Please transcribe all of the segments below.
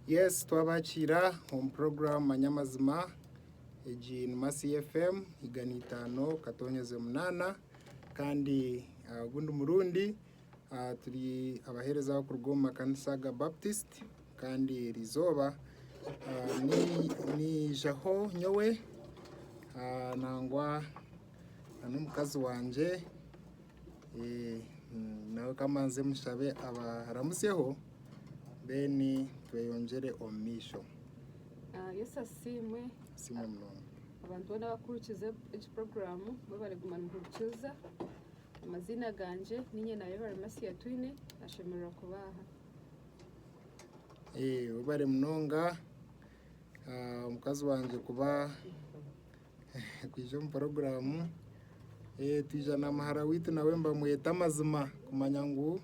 Yes twabakiira omu program manya amazima egi ni Mercy FM igana itaano katonyeze munaana kandi ogundi murundi turi abahereza abakuruga omu makanisa aga Baptist kandi eri izooba niijaho nyowe nangwa n'omukazi wangye. Nawe ka mbanze mushabe abaramutsyeho then tweyongyere omu maisho. Yesu asiimwe. Asiimwe munonga. Abantu boona abarikuhurikiza egi puroguraamu mwebare kuguma nimuhurikiza. Amaziina gangye niinye naawe Baramasia Twine. Nashemererwa kuba aha. Webare munonga mukazi wangye kuba Kwija omu puroguramu twija na muhara waitu nawe nibamweta amazima kumanya ngu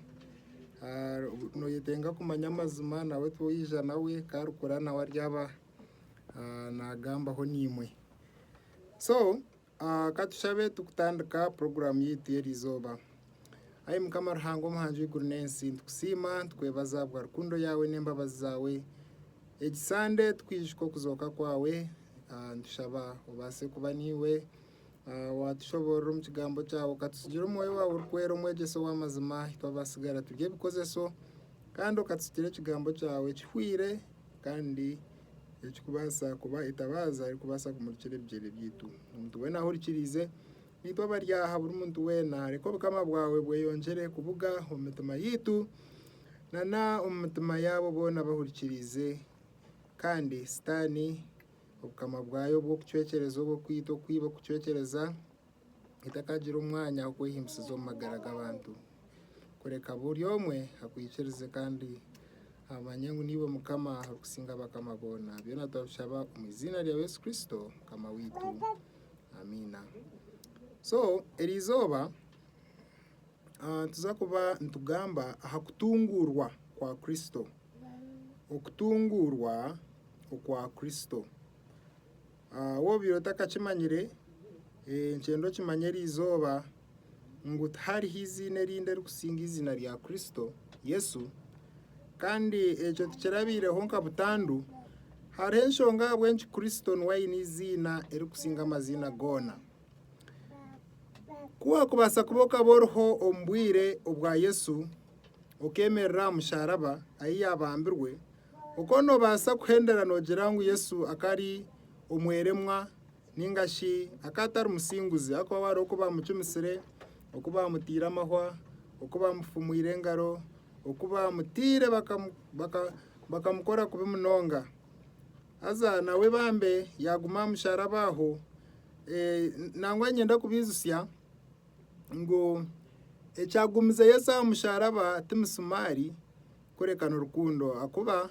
noyetenga kumanya amazima nawe ku orikuza nawe ku arikukura nawe aryaba nagambaho naimwe. So ka tushabe turikutandika puroguramu yaitu y'eri izooba. Ai Mukama Ruhanga omuhangi w'eiguru n'ensi nitukusiima nitukwebaza ahabwa rukundo yaawe n'embabazi zaawe. Egi sande tukwijuka okuzooka kwawe Nitushaba obaase kuba naiwe waatushoboorora omu kigambo kyaawe okatutsigire omwoyo waawe orikwera omwegyesa ow'amazima ahi twabaasigara turi ebikozeso kandi okatutsigire ekigambo kyaawe kihweire kandi ekirikubaasa kuba etabaaza erikubaasa kumurikira ebigyere byaitu. Omuntu weena ahurikiriize naitwe abari aha buri muntu weena reka obukama bwaawe bweyongyere kubuga omu mitima yaitu nana omu mitima yaabo boona abahurikiriize Kandi Sitaane, obukama bwayo obw'okucwekyereza, obw'okwita okubi, obw'okucwekyereza, etakagira omwanya ah'okwehimbisiza omu magara g'abantu, kureka buri omwe akwikirize kandi amanye ngu niiwe Mukama orikusinga abakama boona. Byona turabishaba omu iziina rya Yesu Kristo Mukama waitu. Amiina. So, eri izooba. Nituza kuba nitugamba aha kutunguurwa kwa Kristo. Okutunguurwa okwa Kristo. Waaba obaire otakakimanyire, nikyenda okimanye eri izooba ngu tihariho eiziina erindi erikusinga eiziina rya Kristo Yesu. Kandi ekyo tikirabaireho nka butandu. Hariho enshonga ahabw'enki Kristo niwe aine eiziina erikusinga amaziina goona. Ku waakubaasa kuba okaba oriho omu bwire obwa Yesu, okeemerera aha musharaba ahi yaabambirwe, okaba noobaasa kuhendera noogira ngu Yesu akaba ari omweremwa nainga shi akaba atari musinguzi ahabw'okuba hariho oku baamucumisire, oku baamutaire amahwa, oku baamufumwire engaro, oku baamutaire bakamukora kubi munonga. Haza nawe bambe yaaguma aha musharaba aho. Eh, nangwa niinyenda kubaijutsya ngu ekyagumize Yesu aha musharaba ti misumaari kureka ni rukundo. Ahakuba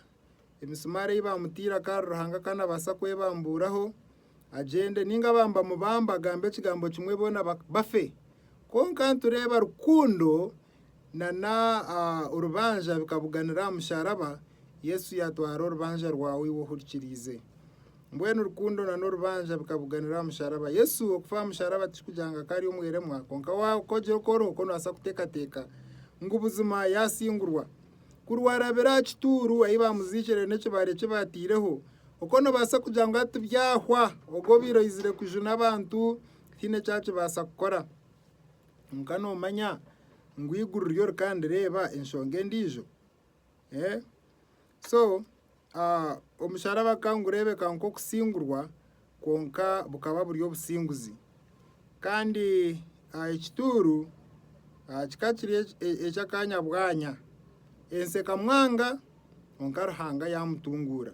emisumaari ei baamutaire akaba ari Ruhanga akaba naabaasa kwebambuuraho agyende, nainga baamubamba agambe ekigambo kimwe boona ba- bafe. Kwonka nitureeba rukundo na n'orubanja bikabuganira aha musharaba, Yesu yatwara orubanja rwawe iwe ohurikiriize. Mbwenu rukundo na n'orubanja bikabuganira aha musharaba. Yesu okufa aha musharaba tikikugira ngu akaba ari omweremwa, kwonka wagira okworooba okwo noobaasa kuteekateeka ngu buzima yaasingurwa. Ku rwarabire aha kituuru ahi baamuziikire n'ekibare eki baataireho, okwo noobaasa kugira ngu hati byahwa, ogwo obaire oizire kujuna abantu tihaine eki akibaasa kukora. Kwonka noomanya ngu eiguru ryo rikandireeba enshonga endiijo? So omusharaba gukaba nigureebeka nk'okusingurwa kwonka bukaba buri obusinguzi. Kandi ekituuru kikaba kiri eky'akaanya bwanya. Ensi ekamwanga kwonka Ruhanga yaamutunguura.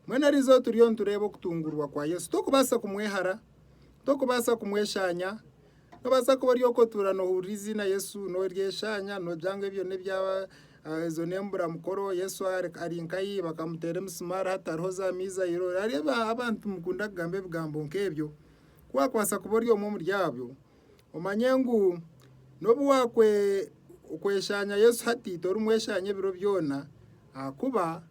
Mbwenu erizooba turiyo nitureeba okutunguurwa kwa Yesu torikubaasa kumwehara, torikubaasa kumweshaanya. Nobaasa kuba ori okotuura nohurira eiziina Yesu noryeshanya nogira ngu ebyo nebya ezo nemburamukoro Yesu ari nkayi bakamuteera emisumaari hatariho za mizairo hariho aba abantu mukunda kugamba ebigambo nkebyo kuwakwaasa kuba ori omwe omuri abyo omanye ngu nobu wakwe okweshanya Yesu hati tori mweshanya ebiro byoona ahakuba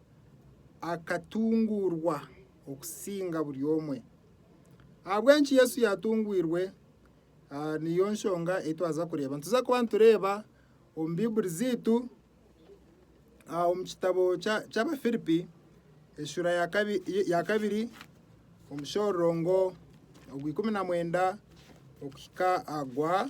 akatunguurwa okusinga buri omwe. Ahabw'enki Yesu yaatungwirwe? Niyo nshonga ei twaza kureeba. Nituza kuba nitureeba omu Baiburi zaitu omu kitabo ky'Abafiripi enshura ya kabiri omushororongo ogw'eikumi na mwenda okuhika aha gwa...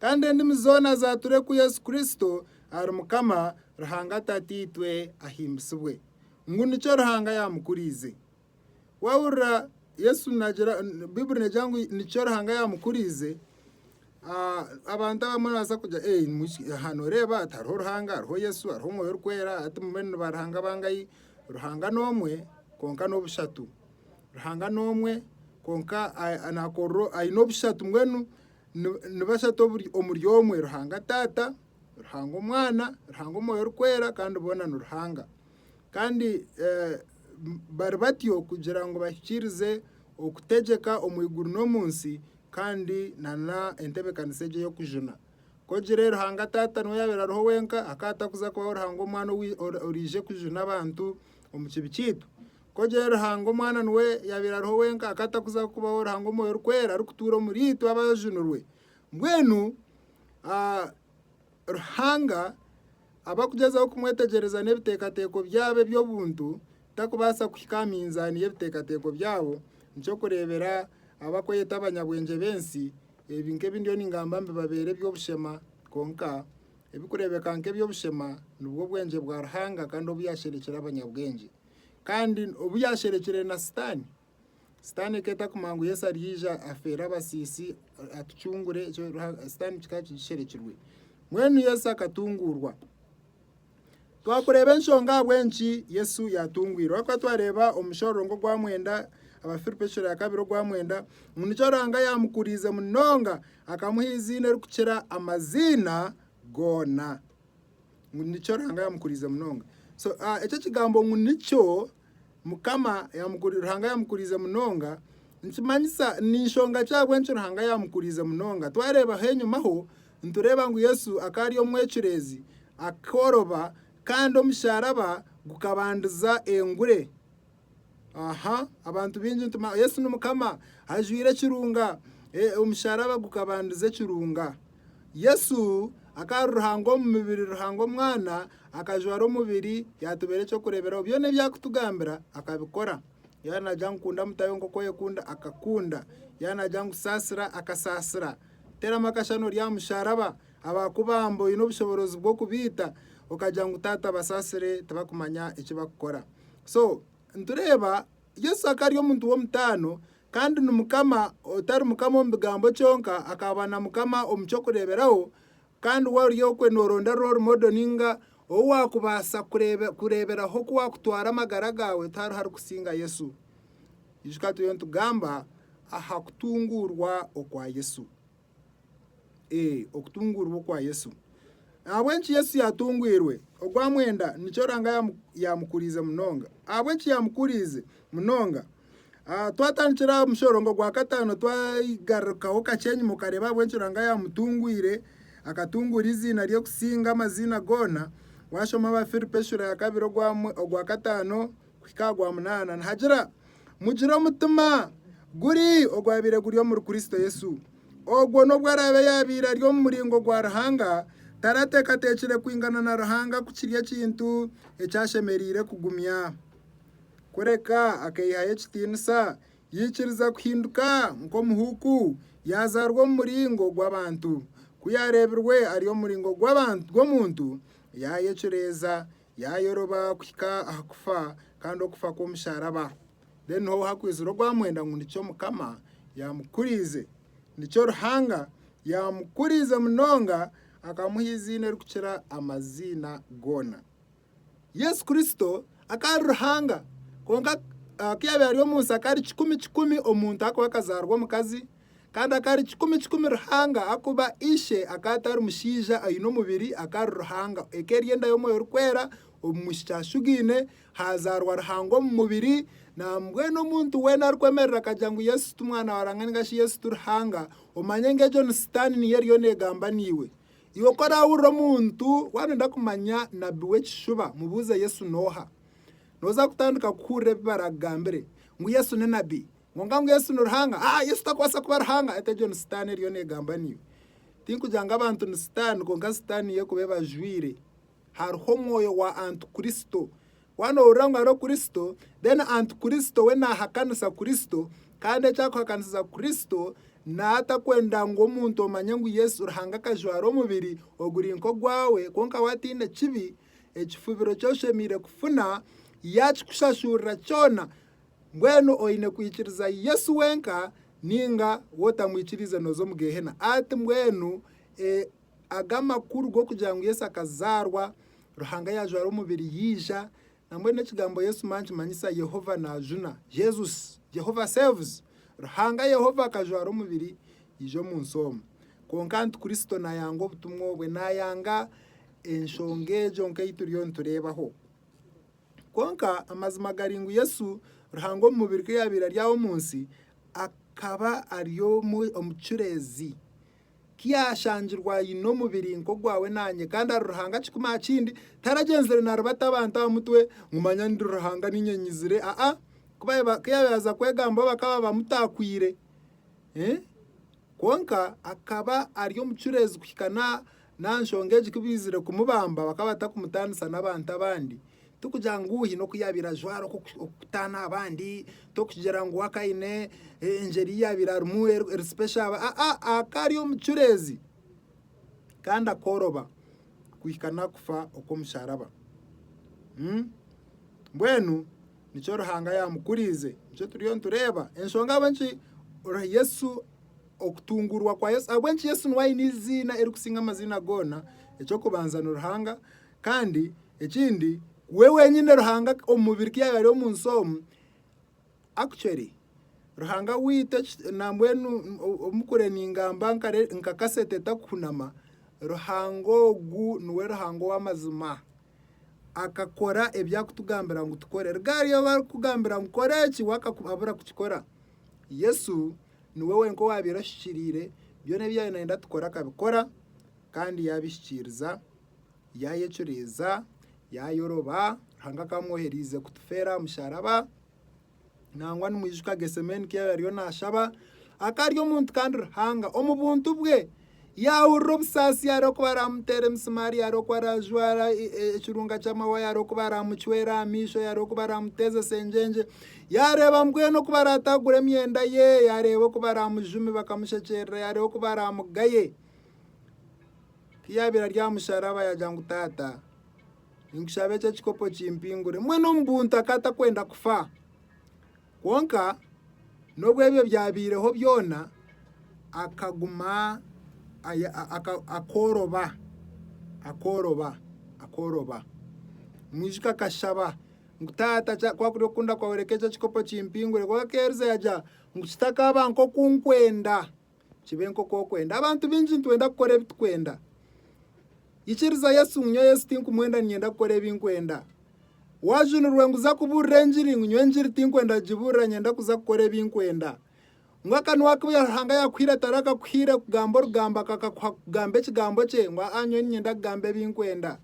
Kandi endimi zoona zaature ku Yesu Kristo ari Mukama, Ruhanga Tataitwe ahimbisibwe, ngu nikyo Ruhanga yaamukuriize. Waahurira Yesu naagira, Baiburi neegira ngu nikyo Ruhanga yaamukuriize, abantu abamwe nibabaasa kugira ee nimukiki, aha nooreeba ati hariho Ruhanga, hariho Yesu, hariho Omwoyo Orikwera, hati mbwenu niba Ruhanga bangahi? Ruhanga n'omwe kwonka n'obushatu. Ruhanga n'omwe kwonka naakorera, aine obushatu mbwenu. Ni bashatu omuri omwe, Ruhanga Taata, Ruhanga Omwana, Ruhanga Omwoyo Orikwera kandi boona ni Ruhanga. Kandi bari batyo kugira ngu bahikiirize okutegyeka omu iguru n'omu nsi kandi nana entebeekanisa egyo ey'okujuna. Ku ogire Ruhanga Taata niwe yaabaire ariho wenka, hakaba hatakuza kubaho Ruhanga Omwana oriija kujuna abantu omu kibi kyaitu. Ku ogira ori Ruhanga Omwana niwe yaabaire ariho wenka, akaba atakuza kubaho Ruhanga Omwoyo Orikwera arikutuura omuriitwe abajunirwe. Mbwenu ah, Ruhanga abakugyezaho kumwetegyereza n'ebiteekateeko byabo eby'obuntu, takubaasa kuhika aha minzaani y'ebiteekateeko byabo, nikyo kureebera abakweyeta abanyabwengye b'ensi, ebi nk'ebi ndiyo ningamba mbibabeere eby'obushema, kwonka ebikureebeka nk'eby'obushema nibwo bwengye bwa Ruhanga kandi obu yaasherekire abanyabwengye. Kandi obu yaasherekire na Sitaane, Sitaane ku etarikumanya ngu Yesu aryaija afeere abasiisi, atucungure, ekyo Ruha- Sitaane kikaba kigisherekirwe. Mbwenu Yesu akatunguurwa. Twakureeba enshonga ahabw'enki Yesu yaatungwirwe. Ahakuba twareeba omu mushororongo ogwa mwenda, Abafiripi ekicwero kya kabiri ogwa mwenda, ngu nikyo Ruhanga yaamukuriize munonga, akamuha eiziina erikukira amaziina goona. ngu nikyo Ruhanga yamukuriize munonga so ah, ekyo ekigambo ngu nikyo mukama yamukuri- Ruhanga yamukuriize munonga nikimanyisa ninshonga ki ahabw'enki Ruhanga yamukuriize munonga twareebaho enyimaho nitureeba ngu Yesu akaba ari omwecureezi akooroba kandi omusharaba gukabandiza engure Aha abantu baingi nti Yesu ni Mukama ajwaire ekirunga. Omusharaba gukabandiza ekirunga. Yesu akaba ari Ruhanga omu mibiri, Ruhanga Omwana akajwara omubiri yatubeera eky'okureeberaho. Byona ebi arikutugambira akabikora. Yaaba naagira ngu kunda mutahi wo nk'oku oyekunda, akakunda. Yaaba naagira ngu saasira, akasaasira. Teeramu akashushani ori aha musharaba, abaakubamba oine obushoboorozi bw'okubaita okagira ngu Taata basaasire tibakumanya eki barikukora. So nitureeba Yesu akari omuntu w'omutaano kandi ni Mukama otari Mukama omu bigambo kyonka, akaba na Mukama omu ky'okureeberaho. Kandi waaba ori okwe nooronda role model ninga ou waakubaasa kureeba kureeberaho ku waakutwara amagara gaawe tihariho arikusinga Yesu. Ijuka turiyo nitugamba aha kutunguurwa okwa Yesu. Ee, okutunguurwa okwa Yesu. Ahabw'enki Yesu yaatunguirwe? Ogwa mwenda nikyo Ranga yamu- yaamukuriize munonga. Ahabw'enki yaamukuriize munonga? Ah, twatandikira aha mushorongo gwa kataano twagarukaho kakye enyima okareeba ahabw'enki Ranga yaamutungwire, akatunguura eiziina rye kusinga amaziina goona, waashoma Abaafiripi eshuura ya kabiri ogwa mwe- ogwa kataano kuhika aha gwa munaana nihagira, Mugire omutima guri ogwabaire guri omuri Kristo Yesu. Ogwo n'obu araabe yaabaire ari omu muringo gwa Ruhanga, tarateekateekire kwingana na Ruhanga ku kiri ekintu eki ashemereire kugumya. Kureka akaihayo ekitiinisa, yaikiriza kuhinduka nk'omuhuuku, yaazaarwa omu muringo gw'abantu. Ku yaareebirwe ari omu muringo gw'omuntu, yaayecureeza, Yaayoroba kuhika aha kufa, kandi okufa kw'omusharaba. Mbwenu niho hakwizire ogwa mwenda ngu nikyo Mukama yaamukuriize. Nikyo Ruhanga yaamukuriize munonga akamuha eiziina erikukira amaziina goona. Yesu Kristo akaba ari Ruhanga, kwonka ku yaabaire ari omu nsi akaba ari kikumi kikumi omuntu ahakuba akazaarwa omukazi, Kandi akari kikumi kikumi Ruhanga akuba Ishe akaba atari mushaija aine omubiri akari Ruhanga eka eryenda y'omwoyo orikwera omu mwishiki ashugaine hazaarwa Ruhanga omu mubiri nambwenu omuntu weena arikwemerera akagira ngu Yesu ti mwana wa Ruhanga ningashi Yesu ti Ruhanga omanye ngu egyo ni sitaani niyo eriyo negamba naiwe. Iwe ku orahurira omuntu wanoyenda kumanya nabi w'ekishuba mubuuze Yesu noha noza kutandika kuhurira ebi barakugambire ngu Yesu ni nabi Kwonka ngu Yesu ni Ruhanga? Haa, Yesu takubaasa kuba Ruhanga. Ati egyo ni Sitaane eriyo neegamba naiwe. Tinkugira ngu abantu ni Sitaane, kwonka Sitaane niyo erikuba ebajwaire. Hariho omwoyo wa Antikuristo. Waaba noowurira ngu hariho Kuristo, then Antikuristo we naahakanisa Kuristo, kandi eki arikuhakanisiza Kuristo, naatakwenda ngu omuntu omanye ngu Yesu Ruhanga akajwara omubiri oguri nk'ogwawe, kwonka we ataine kibi, ekifubiro ki oshemereire kufuna, yaakikushashurira kyona. Mbwenu oine kwikiriza Yesu wenka ninga wotamwikiriize noza omu gehena ati mbwenu e aga amakuru gokugira ngu Yesu akazaarwa, Ruhanga yajwara omubiri yaija, nambwenu ekigambo Yesu ma nikimanyisa Yehova najuna, Jesus, Jehovah saves, Ruhanga Yehova akajwara omubiri yaija omu nsi omu. Kwonka anti Kristo nayanga obutumwa obwe, nayanga enshonga egyo nkei turiyo nitureebaho. Kwonka amazima gari ngu Yesu, Ruhanga omu mubiri ku yaabaire ari aha omu nsi, akaba ari omu kicureezi. Ku yaashangirwe aine omubiri nk'ogwawe naanye kandi ari Ruhanga kikumi aha kindi, taragyenzire naaribata abantu aha mutwe ngu manya ndi Ruhanga nainga nyizire. Aa, ku yaabaire yaaza kwegamba bo bakaba bamutaakwaire. Kwonka akaba ari omucureezi kuhika n'aha N'aha nshonga egi ku baizire kumubamba bakaba batakumutaanisa n'abantu abandi. Tikugira ngu haine oku yaabaire ajwara okukutaana abandi, tokugira ngu aka aine engyeri ei yaabaire arimu eri sipesho aba, aa, akaba ari omucureezi kandi akooroba kuhika n'akufa okw'omusharaba. Mbwenu nikyo Ruhanga yaamukuriize, nikyo turiyo nitureeba enshonga ahabw'enki Yesu Okutungurwa kwa Yesu. Ahabw'enki Yesu niwe aine eiziina erikusinga amaziina goona? Eky'okubanza ni Ruhanga, kandi ekindi we wenyine Ruhanga omu mubiri ku yaabaire ari omu nsi omu. Actually, Ruhanga waitu eki- nambwenu o- omukure ningamba nkare- nka kasete etakuhunama, Ruhanga ogu niwe Ruhanga ow'amazima. Akakora ebi akutugambira ngu tukore. Ruga hariyo abu arikukugambira ngu kora eki, waaka abura kukikora. Yesu Niwe wenka owaabaire ashikiriire, byona ebi yaabaire naayenda tukore akabikora kandi yaabihikiiriza, yaayecureeza, yaayoroba, Ruhanga akaba amwohereize kutufeera aha musharaba, nangwa nimwijuka Getsemane ku yaabaire ariyo naashaba, akaba ari omuntu kandi Ruhanga omu buntu bwe Yaahurira obusaasi hariho oku baraamuteera emisimaari, hariho oku araajwara ekirunga ky'amawaya, hariho oku baraamucwera aha maisho, hariho oku baraamuteezesa engyengye, yaareeba mbwenu oku baraataagura emyenda ye, yaareeba oku baraamujumi bakamushekyerera, yaareeba oku baraamugaye. Ku yaabaire ari aha musharaba yaagira ngu Taata, ninkushaba eki ekikopo kimpingure. Mbwenu omu buntu akaba atakwenda kufa. Kwonka n'obu ebyo byabaireho byona, akaguma akooroba, akooroba, akooroba. Omwisika akashaba ngu, Taata ku orikuri kukunda kwawe reka eki ekikopo kimpingure. Kwonka akeerize yaagira ngu, Kitakaaba nk'oku nkwenda. Kibe nk'oku okwenda. Abantu baingi nitwenda kukora ebi tukwenda. Ikiriza Yesu ngu nyowe Yesu tinkumwenda ninyenda kukora ebi nkwenda. Waajunirwe ngu za kubuurira engiri ngu nyowe engiri tinkwenda kugibuurira nyenda kuza kukora ebi nkwenda. Ngu akanwa aku Ruhanga yaakuhaire atarakakuhaire kugamba orugambo akakakuha kugamba ekigambo kye ngu aa nyowe ninyenda kugamba ebi nkwenda.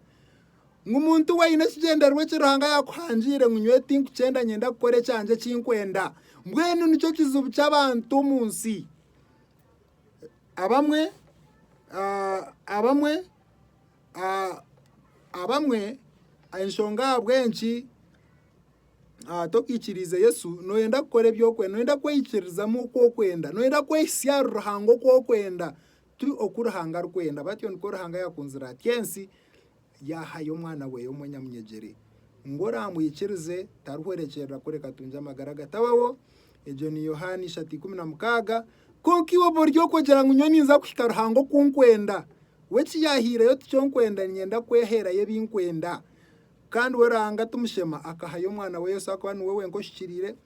Ngu muntu we aine ekigyendererwa eki Ruhanga yaakuhangiire ngu nyowe tinkukyenda nyenda kukora ekyangye eki nkwenda. Mbwenu nikyo kizibu ky'abantu omu nsi. Abamwe ah, abamwe ah, abamwe enshonga ahabw'enki ah, tokaikiriize Yesu nooyenda kukora eby'okwenda, nooyenda kweyikirizamu oku okwenda, nooyenda kwehitsya ahari Ruhanga oku okwenda. Tiri oku Ruhanga arikwenda, batyo nikwo Ruhanga yaakunzire atyo ensi, yaahayo Omwana weye omwe nyamunyegyere, ngu oraamwikirize tarihwerekyerera kureka atungye amagara gatabaho. Egyo ni Yohaana ishatu ikumi na mukaaga. Kwonka iwe oba ori okugira ngu nyowe ninza kuhika Ruhanga oku nkwenda, we eki yaahiireyo tikyo nkwenda, niinyenda kweheerayo ebi nkwenda. Kandi we Ruhanga timushema, akahayo Omwana we Yesu akuba niwe wenka oshukiriire,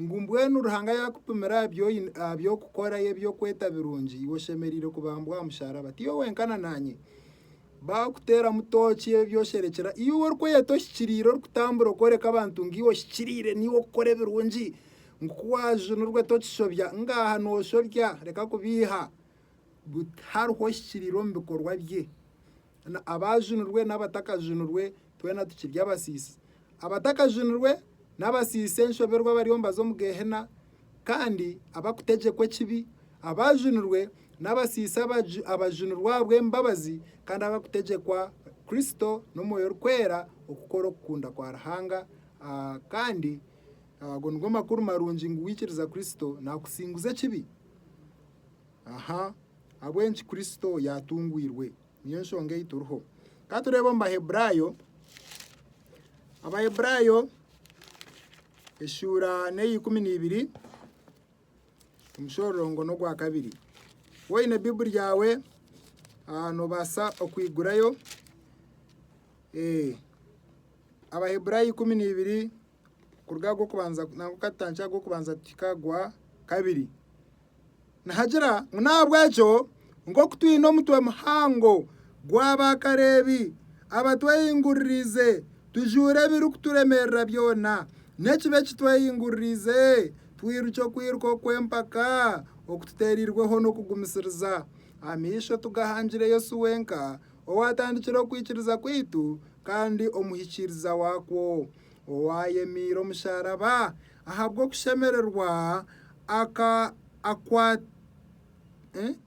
Ngu mbwenu Ruhanga yaakupimira aha by'okukora ye by'okweta birungi, iwe oshemereire kubambwa aha musharaba. Ti iwe wenka na naanye. Baakuteeramu tooki ebi osherekira. Iwe orikweyeta ohikiriire orikutambura okworeka abantu ngu iwe ohikiriire naiwe okukora ebirungi. Ngu ku waajunirwe tokishobya. Ngaaha nooshobya reka kubiiha. But hariho ohikiriire omu bikorwa bye. Abaajunirwe n'abatakajunirwe twena tukiri abasiisi. Abatakajunirwe n'abasiisi enshoberwa bariyo nibaza omu Geehena, kandi abarikutegyekwa ekibi. Abaajunirwe n'abasiisi abajunirwe ahabw'embabazi kandi abarikutegyekwa Kristo n'omwoyo orikwera okukora okukunda kwa Ruhanga. Kandi ago nigo makuru marungi ngu waikiriza Kristo naakusinguza ekibi ahabw'enki Kristo yaatungwirwe. Niyo nshonga ei turiho. Ka tureebe omu Baheburaayo, Abaheburaayo eshuura n'eyeikumi n'ibiri, omushororongo n'ogwa kabiri. Waaba oine Baiburi yaawe, ah, noobaasa okuhigurayo. Eh, Abaheburaayo ikumi n'ibiri kuruga aha g'okubanza nari okukatandikira aha g'okubanza kuhika aha gwa kabiri. Nihagira ngu n'ahabw'ekyo nk'oku twine omutwe muhango gw'abaakareebi abatwehinguririize, tujuure ebirikuturemerera byona n'ekibi eki twehinguririize, twirukye okwiruka okw'empaka okututeereirweho n'okugumisiriza. Amaisho tugahangire Yesu wenka, owaatandikire okwikiriza kwaitu kandi omuhikiiriza waakwo. Owaayemeire omusharaba ahabw'okushemererwa aka akwa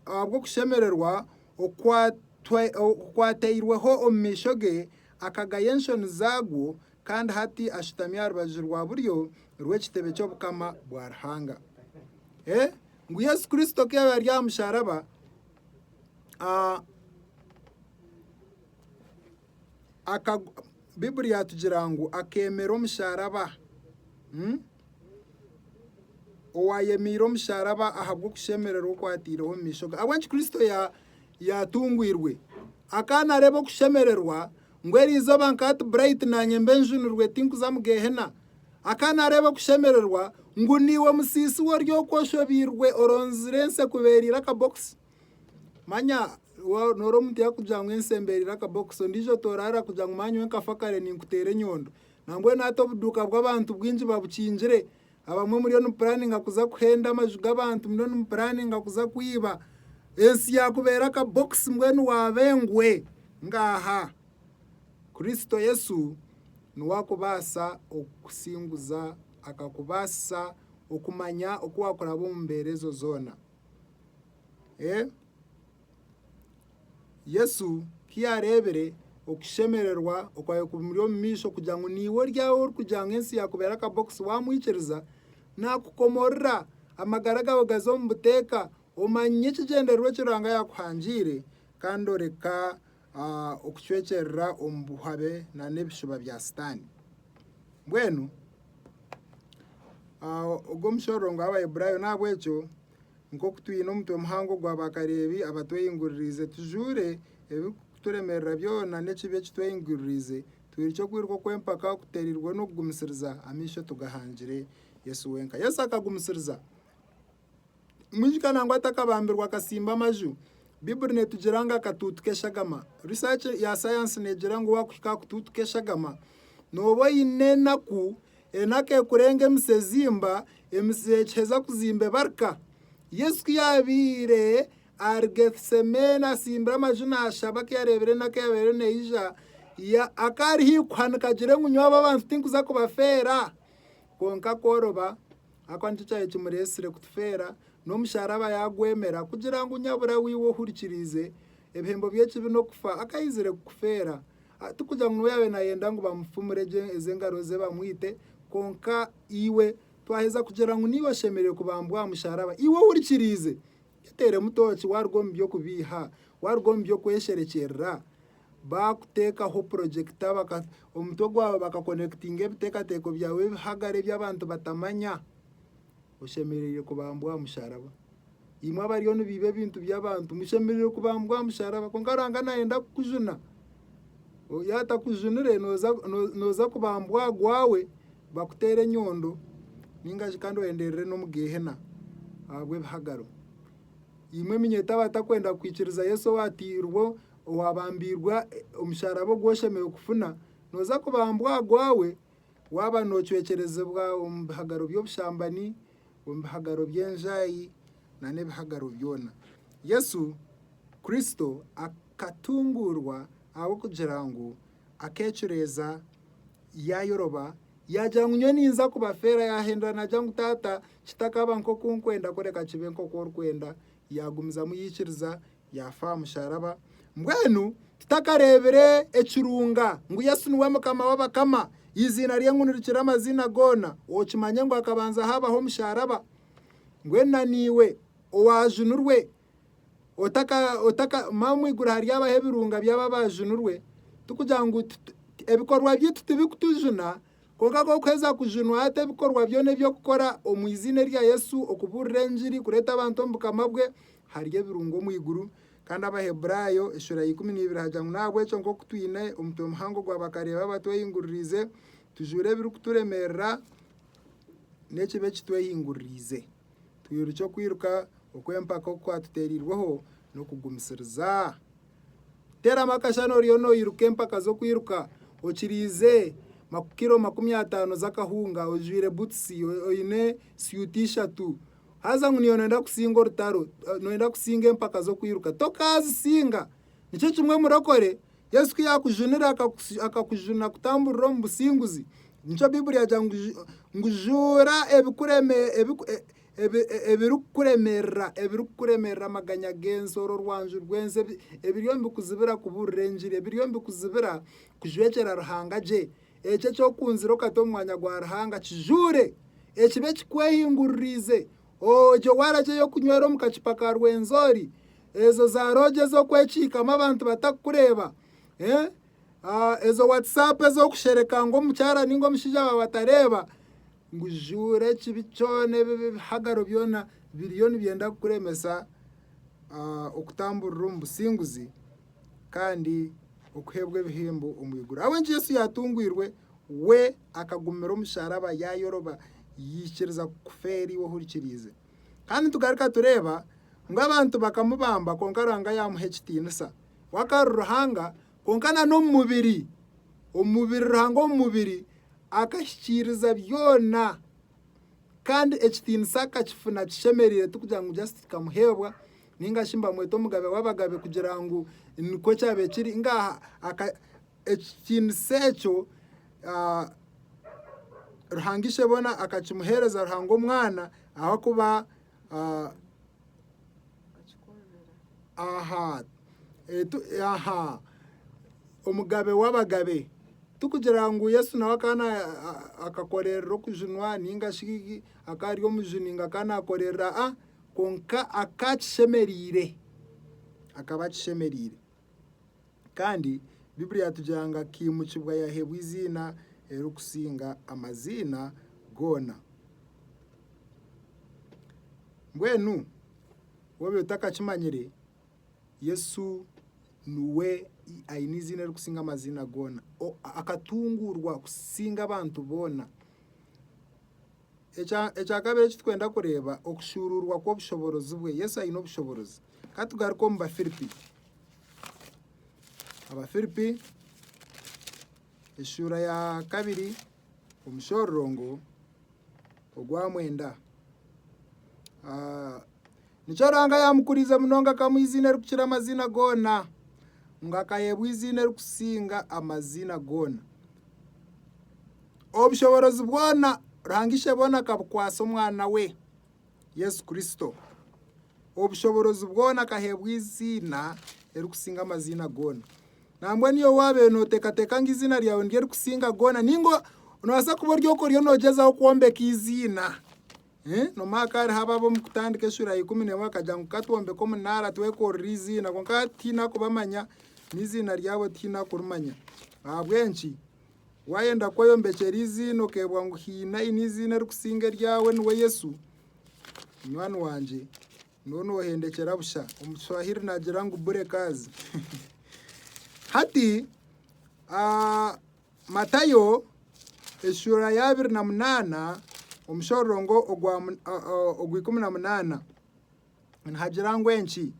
ahabw'okushemererwa okwatairweho omu maisho ge, akagaya enshoni zaagwo, kandi hati ashutami aha rubaju rwa buryo rw'ekitebe ky'obukama bwa Ruhanga. Ngu Yesu Kristo ku yaaba ari aha musharaba Baiburi yaatugira ngu akeemera omusharaba. Owaayemeire omusharaba ahabw'okushemererwa oku ataireho omu maisho ge. Ahabw'enki Kristo yaatungwirwe? Akaba naareeba okushemererwa ngu eri izooba nka hati burayiti naanye mbe njunirwe tinkuza omu Geehena. Akaba naareeba okushemererwa ngu niiwe musiisi we ori okwo oshobeirwe oronzire ensi ekubeereire akabokisi. Manya noora omuntu yakugira ngu ensi embereire akabokisi ondiijo toraara kugira ngu manya nyowe nkafa kare ninkuteera enyondo. Nambwenu hati obuduuka bw'abantu bwingi babukingire, abamwe muriyo nimupuraaninga kuza kuhenda amaju g'abantu, muriyo nimupuraaninga kuza kwiba. Ensi yaakubeera akabokisi mbwenu waaba engwe ngaaha. Kristo Yesu niwe akubaasa okukusinguza, akakubaasisa okumanya oku waakuraba omu mbeera ezo zoona. Yesu ku yaareebire okushemererwa okwabaire kumuri omu maisho kugira ngu naiwe ori aho orikugira ngu ensi yaakubera akabokisi waamwikiriza, naakukomorora amagara gaawe gaze omu buteeka omanye ekigyendererwa eki Ruhanga yaakuhangiire kandi oreka okucwekyerera omu buhabe n'ebishuba bya Sitaane. Mbwenu ogwo omushororongo Abaheburaayo n'ahabw'ekyo nk'oku twine omutwe muhango gwa baakareebi abatwehinguririize tujuure ebirikuturemerera byona n'ekibi eki twehinguririize twirukye okwiruka okw'empaka kuteereirwe n'okugumisiriza amaisho tugahangire Yesu wenka. Yesu akagumisiriza. Mwijukye nangwa atakabambirwe akasimba amaju. Bibuli netugira ngu akatuutu k'eshagama. Research ya sayansi negira ngu wakuhika aha kutuutu k'eshagama nooba oine enaku, enaku ekurenga emitsi ezimba, emitsi ekiheza kuzimba ebarika. Yesu ku yaabaire ahari Gethsemane atsimbire amaju naashaba ku yaareebire enaku eyaabaire eriyo neija, ya- akaba ari haikuhanika agire ngu nyowe aba abantu tinkuza kubafeera. Kwonka kworoba Ahakuba nikyo kyaba kimureetsire kutufeera, n'omusharaba yaagwemera, kugira ngu nyabura we iwe ohurikiriize ebihembo by'ekibi n'okufa, akaizire kukufeera. Tikugira ngu niwe yaabaire naayenda ngu bamufumure gye ezo engaro ze bamwite, kwonka iwe twaheza kugira ngu niiwe oshemereire kubambwa aha musharaba. Iwe ohurikiriize, yeteeremu tooki waaruga omu by'okubiiha, waaruga omu by'okwesherekyerera, Baakuteekaho purojekiti abaka omutwe gwawe bakakonekitinga ebiteekateeko byawe ebihagare ebi abantu batamanya, oshemereire kubambwa aha musharaba. Imwe abariyo nibiiba ebintu by'abantu mushemereire kubambwa aha musharaba kwonka Ruhanga naayenda kukujuna. Yaatakujunire nooza nooza kubambwa aha gwawe bakuteere enyondo nainga shi kandi oyenderere n'omu Geehena ahabw'ebihagaro. Imwe eminyetwe abatakwenda kwikiriza Yesu owaatairwe Owaabambiirwa omusharaba ogu oshemereire kufuna, nooza kubambwa aha gwawe waaba noocwekyerezibwa omu bihagaro by'obushambani, omu bihagaro by'enjaahi nana ebihagaro byona. Yesu Kristo akatunguurwa ahabw'okugira ngu akeecureeza yaayoroba yaagira ngu nyowe ninza kubafeera, yaahindura naagira ngu Taata kitakaaba nk'oku nkwenda kureka kibe nk'oku orikwenda, Yaagumizamu yaikiriza, yaafa aha musharaba. Mbwenu titakareebire ekirunga ngu Yesu niwe Mukama w'abakama, eiziina rye ngu nirikira amaziina goona, okimanye ngu hakabanza haabaho omusharaba. Mbwenu na naiwe owaajunirwe otaka otaka ma omu iguru haryabaho ebirunga by'abo abaajunirwe, tikugira ngu ebikorwa byaitu tibikutujuna, Kwonka ku orikuheza kujunwa hati ebikorwa byona ebi okukora omu iziina erya Yesu, okubuurira engiri, kureeta abantu omu Bukama bwe, hariyo ebirungo omu iguru. Kandi Abaheburaayo eshura ya ikumi na ibiri haagira ngu n'ahabw'ekyo nk'oku twine omutwe muhango ogw'abakareeba abatwehinguririize, tujwire ebirikuturemerera n'ekibi ekitwehinguririize, twirukye okwiruka okw'empaka oku kwatuteereirweho n'okugumisiriza. Teeramu akashana oriyo noiruka empaka z'okwiruka okiriize kiro makumi ataano z'akahunga ojwaire butusi oine syuuti ishatu. Haza ngu niiwe noyenda kusinga orutaro, noyenda kusinga empaka z'okwiruka. Tokaazisinga! Nikyo kimwe murokore, Yesu ku yaakujunire akakujuna kutamburira omu businguzi. Nikyo Baiburi yaagira ngu juura ebirikukuremerera, ebirikukuremerera, amaganya g'ensi, orwo rwanju rw'ensi, ebi- ebiriyo nibikuzibira kubuurira engiri, ebiriyo nibikuzibira kujwekyera Ruhanga gye. Ekyo eky'okuhunzira okata omu mwanya gwa Ruhanga kijuure, ekibe kikwehinguririize, ogye waragi ey'okunywera omu kacupa ka Rwenzori, ezo za loogi ez'okwekiikamu abantu batakukureeba, ezo Whatsapp ez'okushereka ngu omukyara ninga omushaija waawe atareeba, Ngu ijuure ekibi kyona ebihagaro byona biriyo nibyenda kukuremesa okutamburira omu businguzi kandi okuheebwa ebihembo omu iguru. Ahabw'enki Yesu yaatungwirwe? We akagumira omusharaba yaayoroba yaikiriza kufa eri iwe ohurikiriize. Kandi nitugaruka tureeba ngu abantu bakamubamba kwonka Ruhanga yaamuha ekitiinisa. We akaba ari Ruhanga Kwonka na n'omu mubiri, omu mubiri, Ruhanga omu mubiri akahikiiriza byona kandi ekitiinisa akakifuna kishemereire, ti kugira ngu just kikamuheebwa ninga shi mbamweta omugabe w'abagabe kugira ngu nikwo kyabaire kiri, ngaaha aka ekitiinisa ekyo Ruhanga Isheboona akakimuheereza Ruhanga Omwana ahakuba Omugabe w'abagabe. Tikugira ngu Yesu nawe akaba akakorerera okujunwa ninga shi akaba ari omujuni ngu akaba nakorerera a kwonka akaba akishemereire, akaba akishemereire. Kandi Biblia yatugira ngu akaimukibwa yaheebwa eiziina erikusinga amaziina goona. Mbwenu woobaire otakakimanyire, Yesu niwe aine eiziina erikusinga amaziina goona. Akatunguurwa kusinga abantu boona. Ekya kabiri eki turikwenda kureeba, okushuuruurwa kw'obushoboorozi bwe. Yesu aine obushoboorozi. Ka tugaruke omu Bafiripi. Abafiripi eshuura ya kabiri omushororongo ogwa mwenda. Nikyo Ruhanga yaamukuriize munonga akamuha eiziina erikukira amaziina goona, ngu akaheebwa eiziina erikusinga amaziina goona. Obushoboorozi bwona Ruhanga Isheboona akabukwasa Omwana we, Yesu Kristo. Obushoboorozi bwona akaheebwa eiziina erikusinga amaziina goona. Nambwa niiwe waabaire nooteekateeka ngu eiziina ryawe niryo erikusinga goona, ninga noobaasa kuba ori oku oriyo noogyezaho kwombeka eiziina. N'omwaka hariho ababa omu kutandika eshura ya ikumi n'emwe bakagira ngu ka twombeke omunaara twekorere eiziina kwonka hati tihaine arikubamanya, n'eiziina ryabo tihaine arikurimanya. Ahabw'enki? Waayenda kweyombekyera eiziina okeebwa ngu haine aine eiziina erikusinga eryawe niwe Yesu, munywani wangye nooba noohendekyera busha. Omu Kishwahiri naagira ngu bure kazi. Hati Matayo eshuura ya abiri na munaana omushororongo ogwa ikumi na munaana nihagira ngu enki?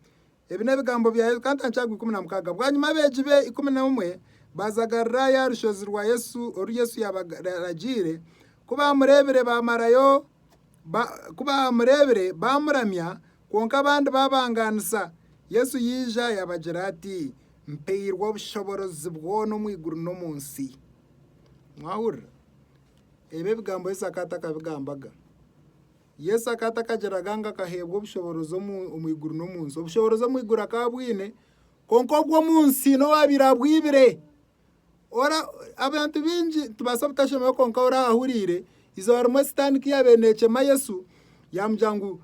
Ebi n'ebigambo bya Yesu kantanki aha gwa ikumi na mukaaga. Bwanyima abeegi be ikumi n'omwe baazagarira ya rushozi rwa Yesu oru Yesu yaabaragiire. Ku baamureebire baamuramya Kwonka abandi baabangaanisa, Yesu yaija yaabagira ati, Mpairwe obushoborozi bwona omu iguru n'omu nsi. Mwahurira? Ebi ebigambo Yesu akaba atakabigambaga. Yesu akaba atakagiraga ngu akaheebwa obushoborozi omu omu iguru n'omu nsi. Obushoborozi omu iguru akaba abwine, kwonka obw'omu nsi n'owaabaire abwibire. Abantu baingi nitubaasa obutashemererwa kwonka we orahuriire eizooba rimwe sitaane ku yaabaire neecema Yesu yaamugira ngu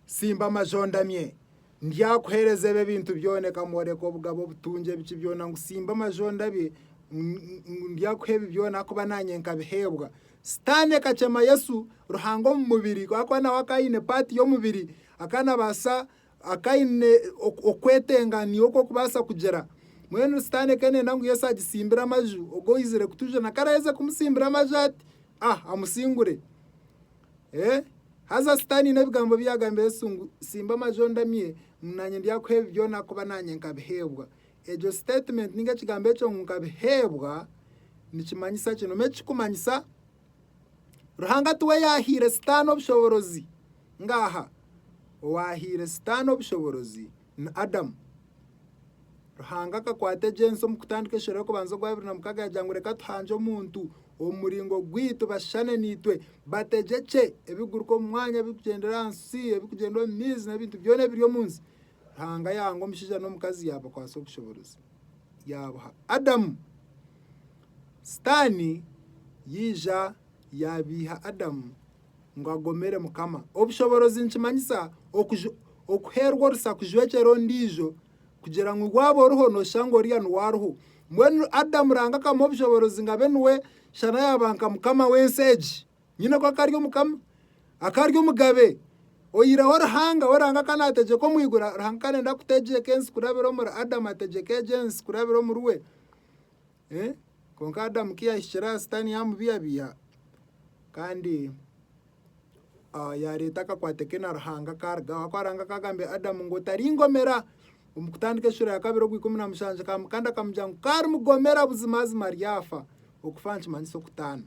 tsimba amaju ondamye ndyakuheereza ebi ebintu byona ekamworeka obugabo, obutungye biki byona ngu tsimba amaju ondabye ngu ndyakuha ebi byona ahakuba naanye nkabiheebwa. Sitaane ekacema Yesu Ruhanga omu mubiri ahakuba nawe akaba aine paati y'omubiri akaba naabaasa Akaine okwetenganiya oku okubaasa kugira, mbwenu Sitaane ku enenda ngu Yesu agitsimbire amaju, ogu oizire kutujuna ku araheza kumutsimbira amaju ati, Ah, amusingure. Ee, haza Sitaane aine ebigambo ebi yaagambira Yesu ngu, Tsimba amaju ondamye, ngu naanye ndyakuha ebi byona ahakuba naanye nkabiheebwa. Egyo sitetimenti nainga ekigambo ekyo ngu nkabiheebwa nikimanyisa ki? Noomanya eki kirikumanyisa? Ruhanga tiwe yaahaire Sitaane obushoboorozi ngaaha. Owaahaire Sitaane obushoboorozi ni Adamu. Ruhanga akakwata egi ensi omu kutandika enshero y'okubanza ogwa abiri na mukaaga yaagira ngu reka tuhangye omuntu omu muringo gwaitu bashushane naitwe bategyekye ebirikuguruka omu mwanya, ebirikugyendera aha nsi, ebirikugyenda omu maizi n'ebintu byona ebiri omu nsi. Ruhanga yahanga omushaija n'omukazi yaabakwatsa obushoboorozi, yaabuha Adamu. Sitaani yaija yaabiiha Adamu ngu agomere Mukama. Obushoboorozi nikimanyisa okuj- okuheerwa orusa kujwekyera ondiijo kugira ngu waaba oriho nooshanga oriya niwe ariho. Mbwenu Adamu Ruhanga akamuha obushoboorozi ngu abe niwe shana yaaba nka mukama w'ensi egi. Nyine ku akari omukama, akari omugabe, oyireho Ruhanga we Ruhanga ka nategyeka omu iguru, Ruhanga ka nenda kutegyeka ensi kurabira omuri Adamu ategyeka egi ensi kurabira omuri we. Eh, Konka Adamu ku yahikire aha sitani yamubihabiha kandi ah, yareeta akakwate ke na Ruhanga karugaho ahakuba Ruhanga akagambira Adamu ngu otaringomera. Omu kutandika eshura ya kabiri ogwa ikumi na mushanju kandi akamugira ngu ku arimugomera buzimazima aryafa, okufa nikimanyisa okutaana.